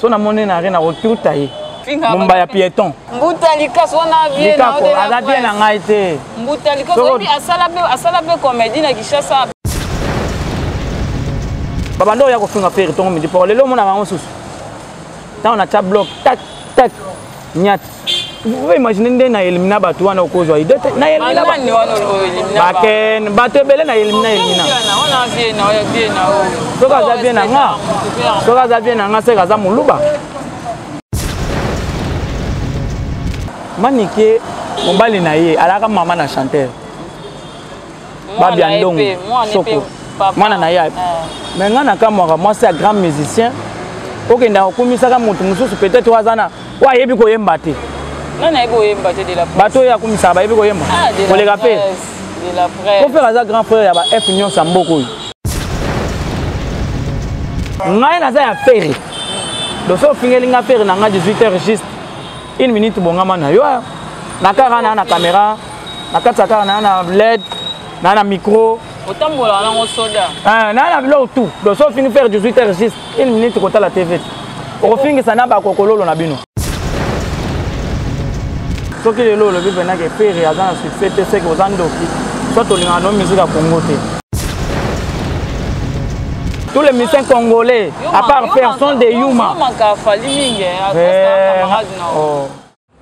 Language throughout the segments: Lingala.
so namoni na re nakotuta ye mumba ya pieton mbuta likasu wana likaku aza bien na ngai te mbuta likasu oyebi asala mpe komedi na kinshasa babanda oya kofinga feri tongo midi poko lelo omonaka yango susu ntango natya blok tak tak nyata oyo imagine nde na elimina bato wana okozwa ide te na eliminabaken bato ebele na elimina elimina soki aza vie na nga soki aza vie na nga seke aza moluba manike mobali na ye alaka mama na chanteur babi ya ndongo soko mwana na ye me ngai nakamwaka mwasi ya grand musicien okendaka okumisaka moto mosusu peut-être oyo aza na oyo ayebi koyemba te bato oyo akumisaka bayebi koyemba ah, koleka mpe kofere aza grand frère ya ba f nyonso ya mboka oyo ngai naza ya fere doso ofingeli nga fere na ngai 18 heures juste une minute bongama na yo na kaka na na caméra na kati ya kaka naa na led naa na micro otambolaka nango soda eh, naa na biloko tout donc so fini faire 18 heures juste une minute kotala tv okofingisa na bakokololo na bino soki lelo olobi mpena ke pere aza na succès te seke oza ndoki so tolingaka no musike ya kongo te tous les musiciens congolais à part personne de yuma, yuma. yuma.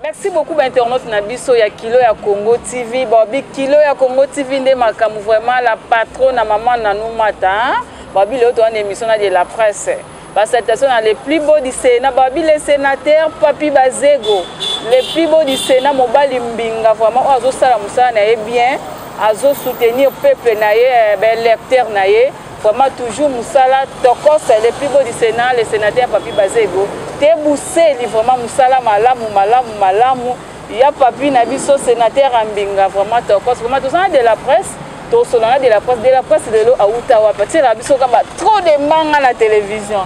merci beaucoup bainternaute na biso ya kilo ya congo tv babi kilo ya congo tv nde makambo vraiment la patro na mama nanou mata babi leo towana émission na de la presse basalutation na le plus beau du sénat babi le sénateur papi bazego le plus beau du sénat mobali mbinga vraiment oyo azosala mosala na ye bien azosoutenir peuple na ye eh, baélecteur na ye Vraiment toujours musala tokos le plus beau du Sénat le sénateur Papi Bazego te buseli vraiment musala malamu malamu malamu ya Papi na biso sénateur Ambinga vraiment tokos vraiment tozana de la presse tosolana de la presse de la presse lelo awuta wapi atyelaka biso kaka trop de mbanga na télévision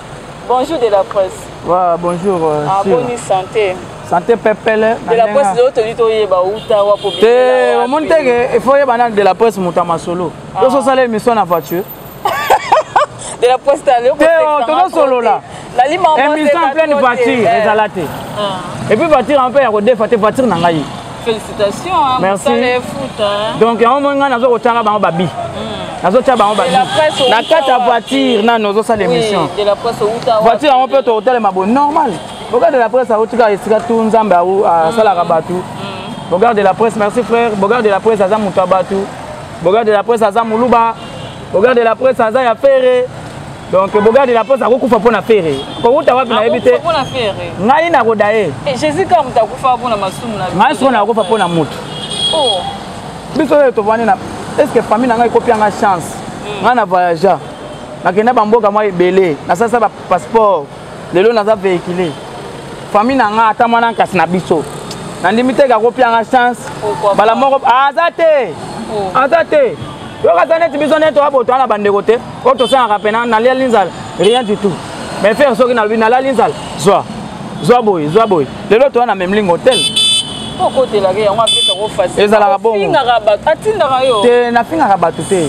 bonjour de la presse wa bonjour euh, ah, boni santé santé pepele de la presse lelo toli toyeba awuta wapi te omoni teke il faut oyeba nani de la presse moto ya masolo oso osala émission na voiture de la poste à l'euro. Théo, tozo solola. Émission en pleine voiture, eh. ezala te. Ah. Et puis voiture en père kodefa te voiture na ngai. Félicitations. Hein, Merci. Foot, hein. Donc yango moi ngai nazo kotanga bango babi. Hmm. Nazo tia bango babi. Na kati ya voiture na nozo sala émission. De la presse uta. Voiture yango pe to hotel mabo normal. Boga de la presse a utika esika tu nzambe a hmm. salaka batu. Hmm. Boga de la presse, merci frère. Boga de la presse aza mutu abatu. Boga de la presse aza muluba. Boga de la presse aza ya Ferre. Donc Boga de la presse akokufa mpo na Ferre. Kowuta wapi nayebi te. Akokufa mpo na Ferre. Ngai nakoda ye. Eh Jésus kaka moto akufa mpo na masumu na. Ngai soko nakokufa mpo na moto. Oh. Biso lelo tovandi na est ce que famille na ngai ekopi yanga chance. Hmm. Ngai na voyagea. Nakenda bamboka mwa ebele. Nasalisa ba passeport. lelo naza vehicule famille na nga ata mwana nkasi na biso nandimi te kakopia nga chance bala moko ah, aza te oh. aza te yoka aza neti biso neti oyabotoa na bandeko te oyo tosengaka mpena naliali nzala rien du tout mais fere soki nalobi nalali nzala zwa zwa boye zwa boye lelo toya na memling hotel ezalaka bongo te nafingaka bato te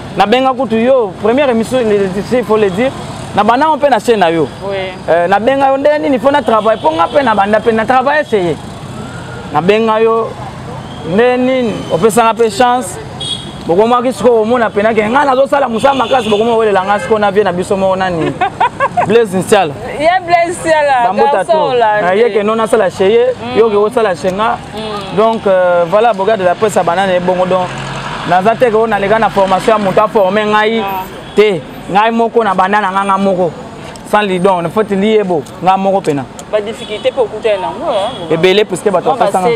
na benga kutu yo première émission il faut le dire na banda ngo mpe na chaîne na yo euh, na benga yo ndenge nini mpo na travail mpo nga mpe na banda mpe na travail eseye na benga yo ndenge nini opesanga mpe chance bokomaki sikoyo komona mpena ke ngai nazosala mosala makasi bokomi owelela ngai sikoyo na vie na biso moko nani blaise nsiala ye blaise nsiala bambota to ye ke no nasala cheye yo ke osala chenga mm. donc euh, voilà boga de la presse abanda na ye bongo donc naza te keo naleka na formation ya moto aforme ngai ah. te ngai moko na banda na ngai ngai moko sans lidon na foti liyebo ngai moko mpena badifficulté mpe okutani nango ebele puiske bato bapesanga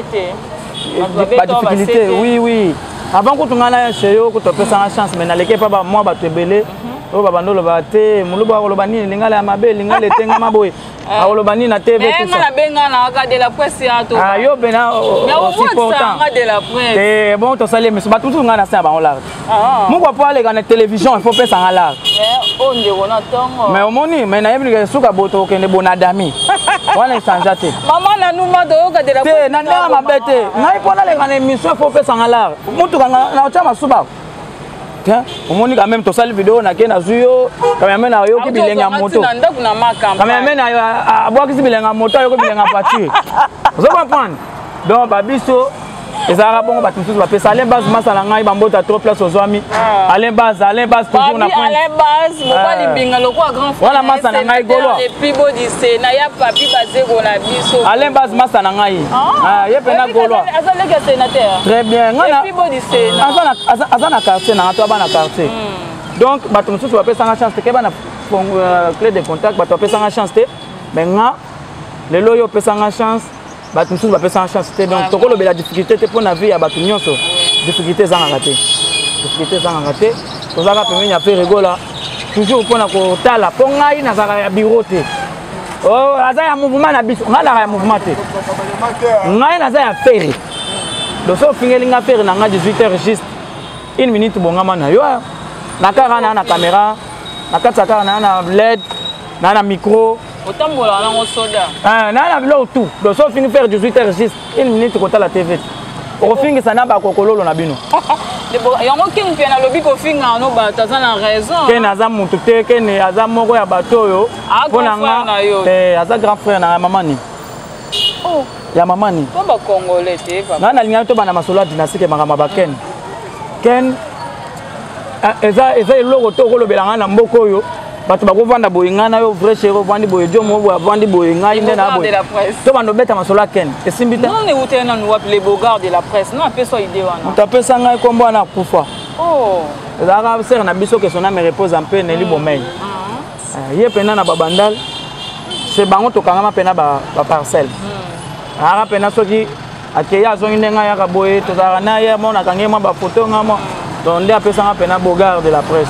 badifficulté oui oui avant kutu ngai na chez yo kutu apesanga chance mais naleki epa bamwa bato ebele mhm. oyo babanda oloba te moluba akoloba nini lingala ya mabe lingala etengama boye Eh. akoloba nini na tv eh, nga nabenganaka de la presse ya to ah, yo pena osupportanga de la presse te eh, bon tosali emission bato mosusu ngai na se ya bango larte ah. moko po aleka na télévision il faut pesa nga larte oyo oh, ndeko na ntongo mais omoni mais nayebi ndeke suka boto okende bona dami wana echangea te mama na numa toyoka de la te na ndenge mabe te ngai mpo naleka na émission il faut pesa nga larte motuka na otya masuba Tiens, omoni quand même tosali video na ke nazwi yo kameme na oyoki bilenge ya moto kameme na yo abwakisi bilenge ya moto ayoki bilenge ya voiture ozo comprendre donc babiso ezalaka bongo bato mosusu bapesa alain base masala ngai bambota trop place ozwami ah. alain base alain base toujours na pointwana ah. masa na ngai goloa alain base masa na ngai ah. ye mpena goloa très bien aza na quartier nanga to aba na quartier hmm. donc bato mosusu bapesanga chance te keba na euh, clé de contact bato bapesanga chance te mais nga lelo oyo opesanga chance bato mosusu bapesanga chance te donc tokolobela difficulté te mpo na vie ya bato nyonso difficulté ezangaka te difficulté ezangaka te tozalaka pembeni ya mpe regola toujours mpo na kotala mpo ngai nazalaka ya biro te oh, aza ya mouvement na biso ngai nazalaka ya mouvement te ngai naza ya fere doso ofingeli nga pere na nga 18 heures juste une minute bongama na yo na kaka na na caméra na kati ya kaka na na led na na micro otambola nango soda na na biloko tout doso ofingi pere 18 heures juste une minute kotala tv okofingisa na bakokololo na bino yango keni mpe nalobi kofinga no bato aza na raison keni aza motu te keni aza moko ya bato oyo mpo na nga eh, aza grand frère na ngai mama nini oh. ya mama nini ngai nalingaki tobanda masolo ya dinastike makambo ba ken ken eh, eza eza eloko to okolobela ngai na mboka oyo bato bakovanda boye ngai na yo vrai chéri ovandi boye jo mo boye avandi boye ngai nde na boye to banda obeta masolo ya ken esimbi te moto apesa ngai nkombo wana akufa oh. ezalaka sere na biso kesona me repose mpe neli bomei mm. Eh, ye pena na babandal se bango tokangama pena baparcelle hmm. aka pena soki akei azongi ndenge ayaka boye tozalaka na ye mo nakangi mwa bafoto nga mo donc nde apesanga pena bogard de la presse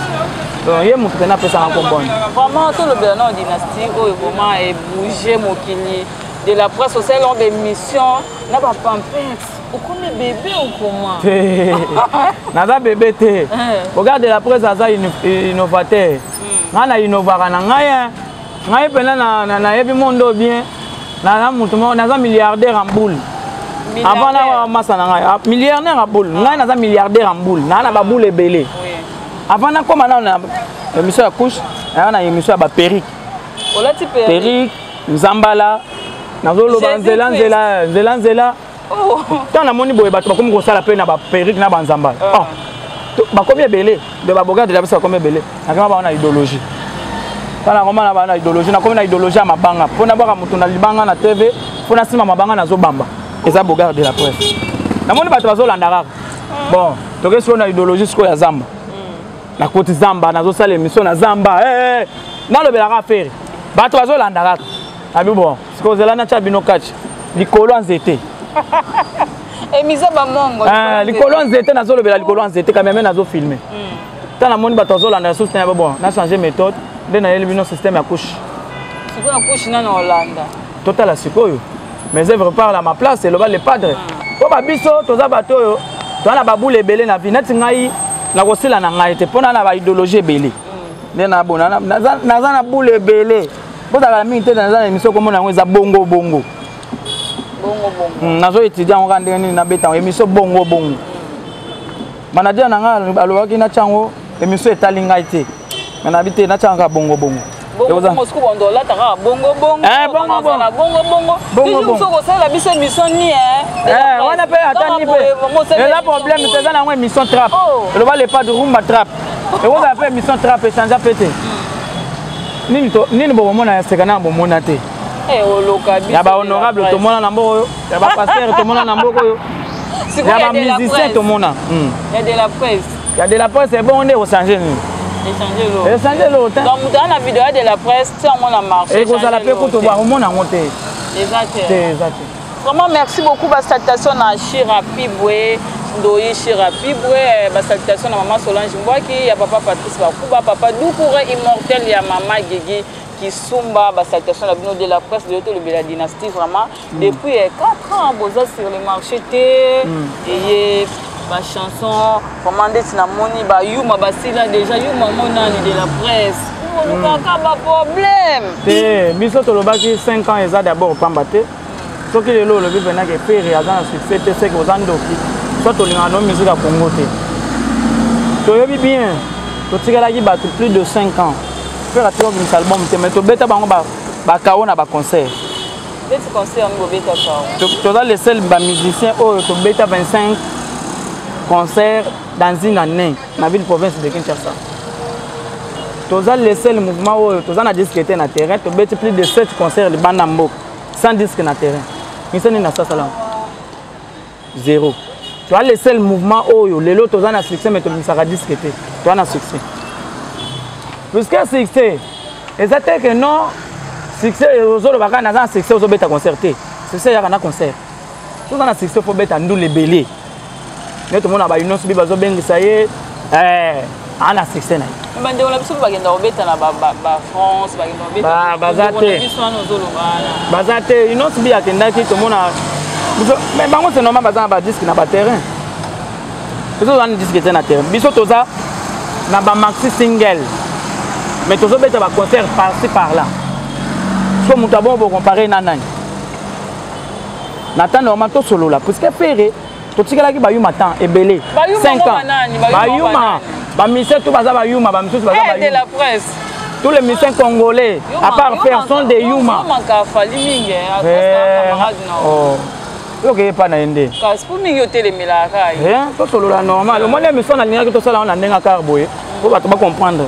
donc ye motu pena apesanga kombona vraiment tolobela na dynastie oyo vraiment ebouge mokili de la presse osali long d'émission na bapampins okomi bebe okoma naza bebe te eh. bogard de la presse aza innovateur hmm. ngai na inovaka na ngai eh. ngai mpena nayebi monde oyo bien naza motu moko naza milliardaire en boule avant na masa na ngai ah, milliardaire en boule ngai naza milliardaire en boule naa na baboule ebele avant nakoma nao na émission ya couche naa na émission ya baperike perike nzambala nazoloba nzela nzela nzela nzela oh. ntango namoni boye bato bakomi kosala mpe na baperike na banzamba ah. oh. bakomi ebele de babogate na biso bakomi ebele nakema bango na idéologie tala nakoma na bango na idéologie nakomi na idéologie ya mabanga mpo nabwaka moto na libanga na tv mpo nasima mabanga nazobamba eza bogare de la presse namoni bato bazolanda kaka ah. bon toke sikoyo na idéologie sikoyo ya zamba hmm. nakoti zamba nazosala émission na zamba eh, eh, eh. nalobelaka affaire bato bazolanda kaka abi bon sikoyo zela natya bino kaci likolo ya nzete emiza eh, bamongo ah, likolo ya nzete nazolobela likolo ya nzete kameme nazofilme ntango hmm. namoni bato azolanda lisusu na bon na change méthode nde nayeli bino système ya couche sikoyo ya couche nano olanda totala sikoyo mes œuvres parle à ma place eloba le padre mpo hmm. babiso toza bato oyo toza na babule ebele na vie neti ngai nakosila na ngai te mpo na na baidéologie ebele hmm. nde nabona naza na bule ebele bozala na mingi te naza na émission komona yango eza bongo bongo hmm, nazo étudia yango kaka ndenge nini nabeta yango émission bongo bongo manager na ngai alobaki natya yango émission etali ngai te me nabi te natya yango kaka bongo bongo wana mpe atani mpe eza problème te eza na yango émission trap eloba oh. lepa de rumba trap ekozala mpe émission trap echange mpe te nini to nini boko mona ya seka na bomona te eh oloka biso ya ba honorable to mona na mboko ya ba pasteur to mona na mboko yo ya ba musicien to mona hmm. ya de la presse ya de la presse ebongo nde osange nini esange eloko te donc moto aa na video ya de la presse ti yango na marché ekozala mpe kutu bakomona yango te eza te eza te Vraiment merci beaucoup ba salutations na Shira Pibwe Ndoyi Shira Pibwe eh, ba salutations na maman Solange Mbwaki ya papa Patrice Bakuba papa Doukoure immortel ya maman Gigi Kisumba ba salutations na bino de la presse de l'auto la dynastie vraiment mm. depuis 4 eh, ans boza sur le marché te mm. et ba chanson vraiment ndeti namoni ba yuma basila déjà yuma ngo nani de la presse olukaka hmm. ba problème te biso tolobaki 5 ans eza d'abord pamba te soki lelo olobi mpena ke pere aza na succès te seke oza ndoki so tolingaka no musique ya congo te toyebi bien totikalaki bato plus de 5 ans pere atika obimisa album te mais tobeta bango bakao na baconcert beti concert yango bobeta kao toza le seul ba musicien oyo tobeta 25 concert dans une année na ville province de kinshasa toza le seul mouvement oyo toza na disque te na terrain tobeti plus de 7 concert libanda mboka sans disque na terrain misani na sasalango zero toa le seul mouvement oyo lelo toza na succès mais tobimisaka disque te toa na succès puisque succès eza te ke non succès ozoloba kaka naza na succès ozobeta concert te succès eyaka na concert toza na succès fo beta ndule ebele nde tomona bainonso bi bazobengisa ye eh. aa na succès na ye bandeko na biso mpe bakenda kobeta na bafrance bakenda kobebaza te baza te inos bi akendaki tomona mais bango se normal baza na badiske na baterrain biso tozana diske te na terrain biso toza na bamaxi single mais tozobeta baconcert parci par là so moto abongo bokompare na nani na temps normal tosolola puisque pere totikelaki bayuma temps ebele 5 ans bayuma bamise to baza bayuma bamisusu baza eh, bayuma tous les musiciens congolais, à part faire, sont des Yuma. oyoki epa na ye nde kasi mpo mingi otelemelaka ye tosolola normal omoni emission nalingaki tosala wana ndenge akar boye mpo bato bacomprendre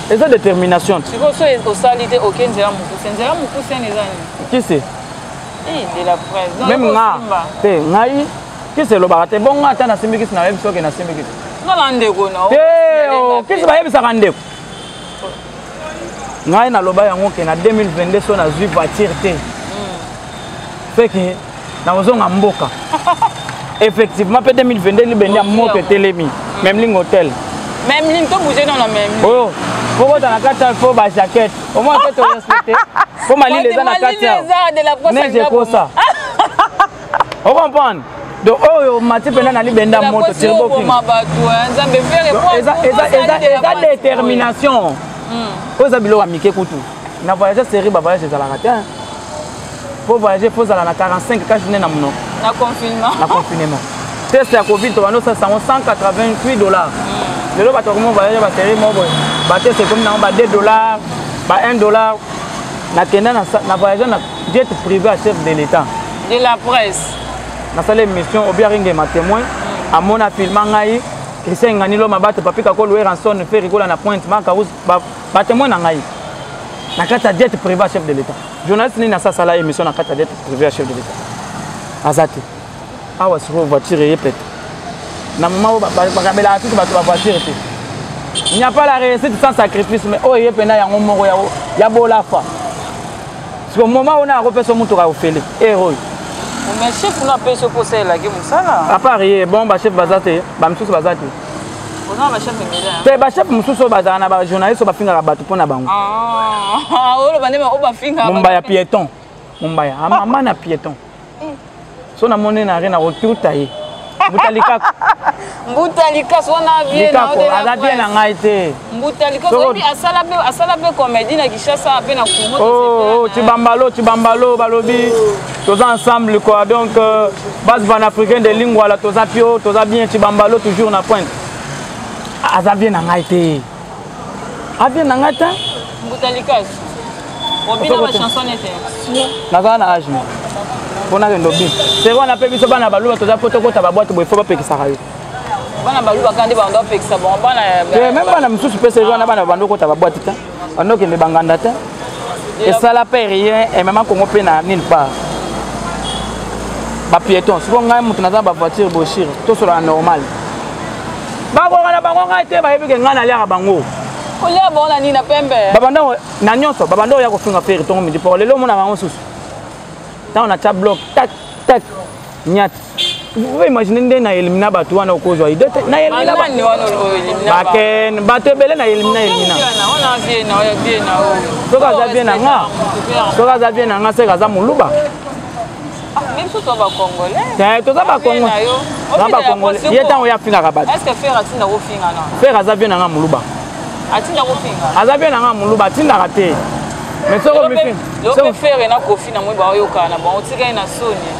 eza determination sikoyo so osali te oke nzela mokuse nzela mokuse ene eza nini kisi eh, de la presse meme nga te ngai kisi elobaka te bongo ata nasimbi kisi nayebi soki nasimbi kisi ngala ndeko na te oh, kisi bayebisaka ndeko ngai naloba yango ke na 2022 so nazwi voiture te hmm. feke nakozonga mboka effectivement mpe 2022 libende ya moto etelemi memling hotel memling to bouge nona memling oyo kokota na kati fo ba jaquette omona te torespecte mpo malili eza na kati neige ekosa ocomprendre donc oyo mati mpenza na libenda moto eza détermination oyo eza biloko ya mike kutu na voyage serie bavoyage ezalaka te po voyage fo ozala na 45 ka journée na monoko na confinement na confinement test ya covid tobanda osalisa yango 188 dollars mm. lelo bato bakomi voyage baserie moko boye batest ekomi nango ba 2 dollars ba 1 dollar nakenda na voyage na jet privé ya chef de l'état de la presse nasala émission obiaringema témoin mm. amona filma ngai christian nganilo mabato papika ko louer anson ferikola na pointe makaus batemoin na ngai na kati ya jet privé ya chef de l'état journaliste nini asasala émission na kati ya dette privé ya chef de l'état aza te awa sikoyo voiture eye pete na moma oyo bakabelaka tutu bato bavoiture te il n'y a pas la réussite sans sacrifice mais oyo eye mpena yango moko ya bolafa siko moma ona akopesa motuka ofele ere oyo mais chef no apesi okosalelaki mosala apart ye bon bachef baza te bamisusu baza te te bachef mosusu oyo bazala na bajournaliste oyo bafingaka bato mpo na bango mombaya ah, piéton mombaya amama ah, na piéton eh. so namoni na re na kotuta ye mbuta likaku mbuta likasu wana vie na aza vie na ngai te mbuta likozo oyebi asala mpe asala mpe comédie na kinshasa mpe na congo oh, oh, cibambalo cibambalo balobi toza ensemble quoi donc euh, base panafricain de lingwala toza pio toza bien cibambalo toujours na pointe aza bien na ngai te abien na ngai te mbuta likozo obina bachanson ete nazala na age moko mpo nakende obi seko wana mpe biso bana baluba toza mpo tokota babwate boye fo bapekisaka yo bana baluba kaka nde banda opekisa bango bana meme bana mosusu mpe seri wana bana banda okota babwati te banda okende banganda te esala mpe rien emema kongo mpe na nil part bapiéton siko ngai moto naza bavoiture boshire tosolana normal bakoka na bango ngai te bayebi ke ngai naliaka bango kolia bango na nini na pembe babanda na nyonso babanda oya kofinga feri ntongo midi po lelo omonaka yango mosusu ntango natya blok tak tak nyata okoki imagine nde na elimina bato wana okozwa ide te na eliminabaken bato ebele na elimina elimina soki aza vie na nga soki aza vie na nga seke aza moluba toza bakongole ye ntango ye afingaka bato fere aza vie na nga moluba aza vie na nga moluba atindaka te mais soki ferre na kofi na moi baoyokana na bango tikali na soni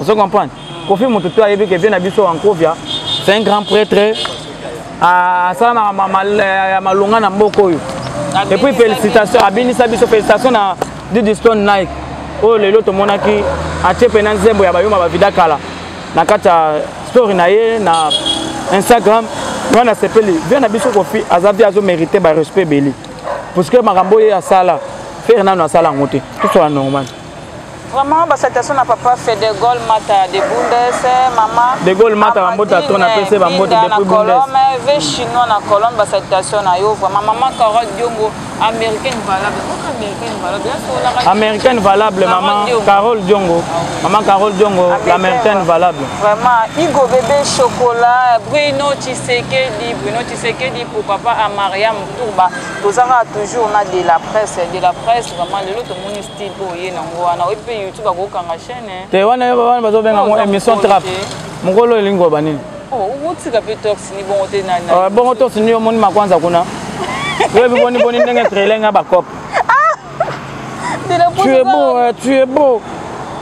ozo comprendre kofi moto to ayebi ke vie na biso ankovia c'est un grand prêtre asalamaka ya malonga na mboka oyo et puis félicitation abinisa biso félicitation na didistone nike oyo oh, lelo tomonaki atie mpena nzembo ya bayuma bavida kala na kati ya story na ye na instagram ngai nasepeli vie na biso kofi aza vie azomérite barespect ebeli puisque makambo oyo asala fere nano asala yango te tosola normal Vraiment, basatation na papa fait de Gaulle Mata de Bundes, maman. De Gaulle Mata ba mbota to na pese ba mbota depuis Bundes. Colombe, ve chinois na Colombe basatation na yo vraiment maman Carole Diongo américaine valable. Pourquoi américaine valable? Américaine valable maman Carole Diongo. Maman Carole Diongo l'américaine valable. Vraiment Igo bébé chocolat, Bruno Tshisekedi, Bruno Tshisekedi pour papa à Mariam Tourba. Tozanga toujours na de la presse, de la presse vraiment le lot au monde te wana wana bazobenga yango émission trap mokolo elingi koloba nini bongo torsi nini omoni makwanza kuna oyebi boni boni ndenge trailenga bacope tu es beau euh, tu es beau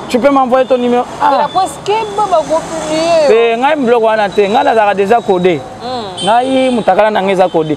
tu peux m'envoyer ton numéro ah. te ngai biloko wana te ngai nazalaka deja code hmm. ngai motakala na ngai eza code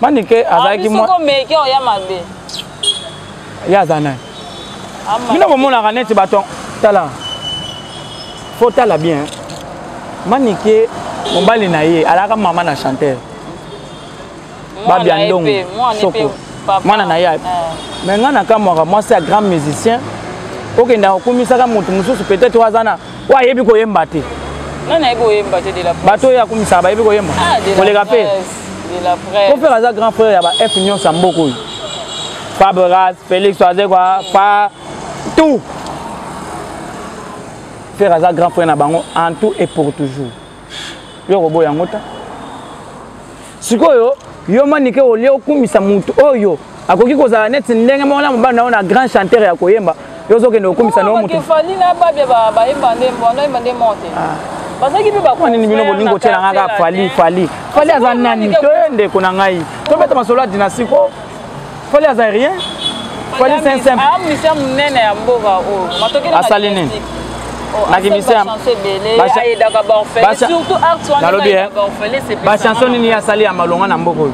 manike azalaki mwa omeki oya mabe ye aza nani bino bomonaka neti baton tala fo tala bien manike mobali na ye alaka mama na chanteur babia ndongo soko mwana na ye eh. me ngai nakamwaka mwasi ya grand musicien okendaka okumisaka moto mosusu peut-être oyo aza na oyo ayebi koyemba te nani ayebi koyemba te de la presse bato oyo akumisaka bayebi koyemba ah, koleka mpe kofere aza grand frère ya ba f nyonso ya mboka oyo fabras félix azekwa fa tout fere aza grand frère na bango en tout et pour toujours yo okoboya yango ta sikoyo yo manike olie okumisa motu oyo akoki kozala neti ndenge moko na mobali na yo na grand chanteur ya koyemba yo ozokende okumisa na yo motu bazalaki mpe bakonini bino bolingi kotyela ngai kaka fali fali fali aza nani toye ndeko na ngai tobeta masolo ya dinasiko fali aza rien fali c'est un simple ah musicien munene ya mboka oyo matoki na asali nini bachanson nini ye asali ya malonga na mboka oyo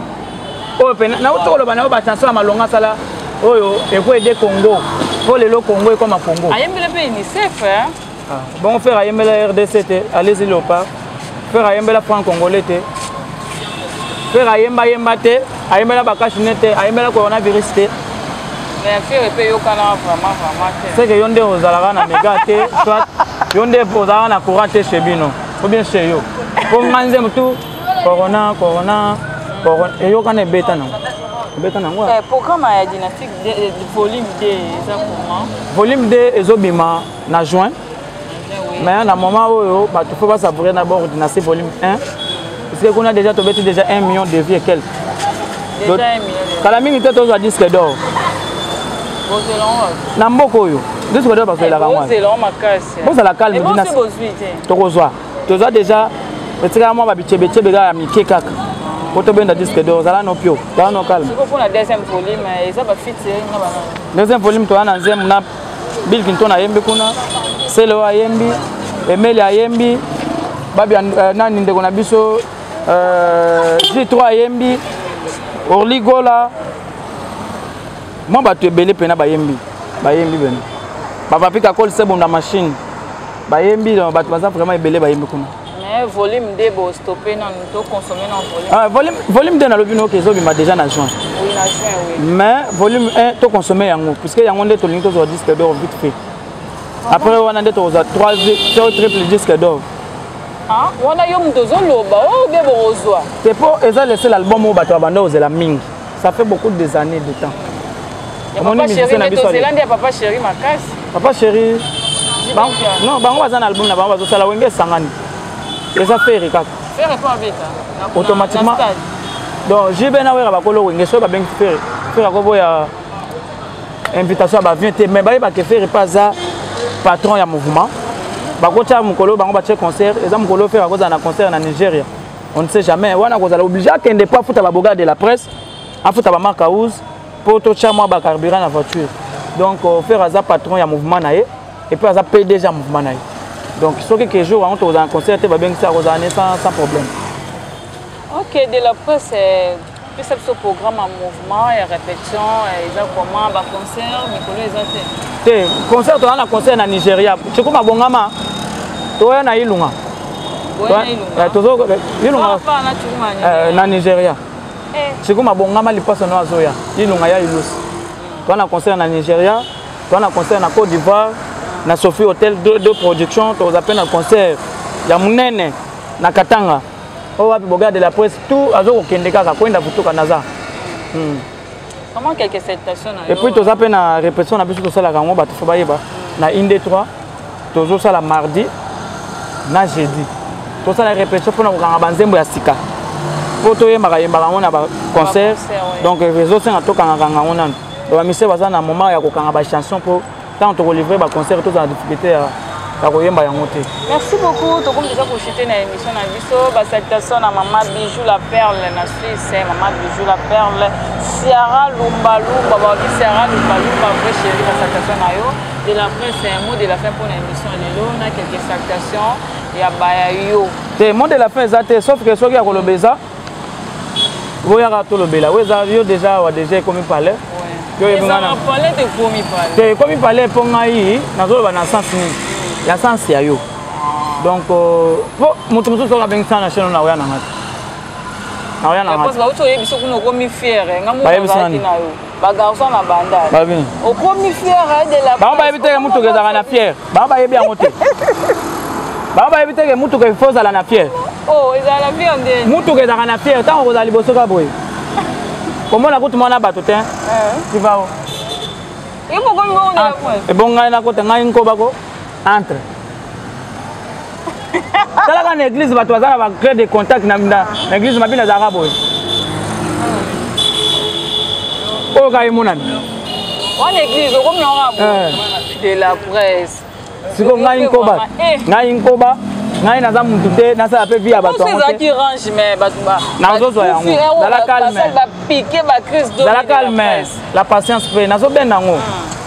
oyo mpe nauti koloba na yo bachanson ya malonga asala oyo ekoede congo mpo lelo congo ekoma congo ayembele mpe unicef ah, bongo fere ayembela rdc te alezi leopard fere ayembela franc congolais te fere ayemba yemba te ayembela bakashine te ayembela coronavirus te seke yo nde ozalaka na mega te soit yo nde ozalaka na courant te chez bino ou bien chez yo mpo ngai nzembo tu corona corona corona eyokana ebeta nango obeta nango eh, programme ya dynastique eh, volume 2 eza comment volume 2 ezobima na juin mais na moment oyo bato fo basavoure na bord na se volume 1 puisque kuna déjà tobeti déjà 1 million de vie et quelque kala mingi te tozwa disque d'or na mboka oyo disque d'or bazwelaka eh, wana bozala calme eh, tokozwa tozwa déjà etikala mwa babicebecebe kaka ya mike kaka po tobenda disque d'or ozala no pio zala no calme deuxième volume toza na nzembo na Bill Clinton ayembi kuna, Celeo ayembi, Emeli ayembi, babi euh, nani ndeko na biso euh, J3 ayembi, Orly Gola, mwa bato ebele mpena bayembi bayembi bene bapapika kol sebonda machine bayembi bato baza vraiment ebele bayembi kuna Mais volume de bo stopper na to consommer na volume. Ah volume volume de na lobi no ke zo bima déjà na juin. Oui na juin oui. Mais volume 1 to consommer yango puisque yango nde to lingi to zo disque d'or vite fait. Ah Après wana nde to zo 3 to triple disque d'or. Ah wana yo muto zo loba o oh, be bo zo. C'est pour eza laisser l'album au bato abanda ozela mingi. Ça fait beaucoup des années de temps. Papa chéri, mais tozela nde ya papa chéri makasi. Papa chéri. Non, bango baza na album na bango bazosala wenge esangani. Eza fere kaka. Fere po abeta. Automatiquement. Donc JB na wera bakolo wenge soki babengi fere. Fere akoboya invitation ya bavien te mais bayebake fere mpe aza patron ya mouvement bakotya mokolo bango batye concert eza mokolo fere akozala na concert na nigeria on ne sait jamais wana kozala oblige akende mpo afuta baboga de la presse afuta bamark house mpo totya mwa bacarburant na voiture donc euh, fere aza patron ya mouvement na ye epuis aza pdg ya mouvement na ye donc soki ke jour yango tokozala na concert te babengisi akozala ne sans problème ok de la presse euh, pesa biso programme ya mouvement ya répétition eza comment ba concert mikolo eza te te concert toza na concert na nigeria ciko mabongama toya na ilunga ilunga na nigeria ciko mabongama lipaso no azoya ilunga ya ilusi toza na concert na nigeria toza na concert na côte d'ivoire na sophie hotel de, de production toza mpe na concert ya monene na katanga oyo wapi bogard de la presse tout azokokende kaka kwenda kutuka naza hmm. epuis toza mpe na répression na biso tosalaka yango bato fo bayeba na inde 3 tozosala mardi na jeudi tosala répression mpo na kokanga banzembo ya sika mpo toyembaka yembaka yango na baconcert donc ezosenga tokangakanga yango nano bamisie baza na moment ya kokanga bachanson mpo ntango tokolivre baconcert tozala na difficulté ya ya koyemba yango te merci beaucoup tokomi deja kochute na émission na biso basalutation na mama bijou la perle na suisse eh, mama bijou la perle siara lumbalumba baoki siara lumbalumba vrai chéri basalutation na yo de la fin c'est un mot de la fin mpo na émission lelo na quelques salutations ya baya yo te mot de la fin eza te sauf que soki ya koloba eza boyaka tolobela oyo eza yo deja awa deja ekomi palais te ekomi palais mpo ngai nazoloba na sens nini ya sens ya yo donc euh, mpo moto mosusu oyo abengi sana cheno na oya na ngai te na oya na ngai te bayebisa nani ba garçon na bandal okomi fière de la bango bayebi te motuka ezalaka na fière bango bayebi yango te bango bayebi te ke motuka efo ozala na fière oh, motuka ezalaka na fière ntango okozala liboso ka boye komona kutu mwana bato te tivao eh. ebongai nakote ngai nkobako entre talaka na église bato baza na baclé de contact na église mabi nazalaka boye oyo kaka emonani wana église okomi yango ya boye eh. de la presse siko ngai nkoba eh. ngai nkoba ngai naza mutu te nasala mpe vi ya bato ezalaki range me nazozwa yango zala calme zala calme la patience mpe nazobenda yango ah.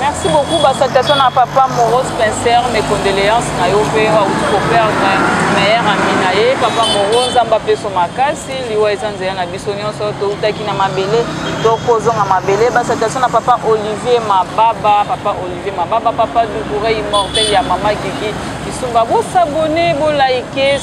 Merci beaucoup ba salutations na papa Moros Pincer mes condoléances na yo pe wa uti ko perdre meilleur ami na ye papa Moros nzamba peso makasi liwa eza nzela na biso nyonso to utaki na mabele to kozonga mabele ba salutations na papa Olivier Mababa papa Olivier Mababa papa Doucouré immortel ya mama Gigi Kisumba bo s'abonner bo liker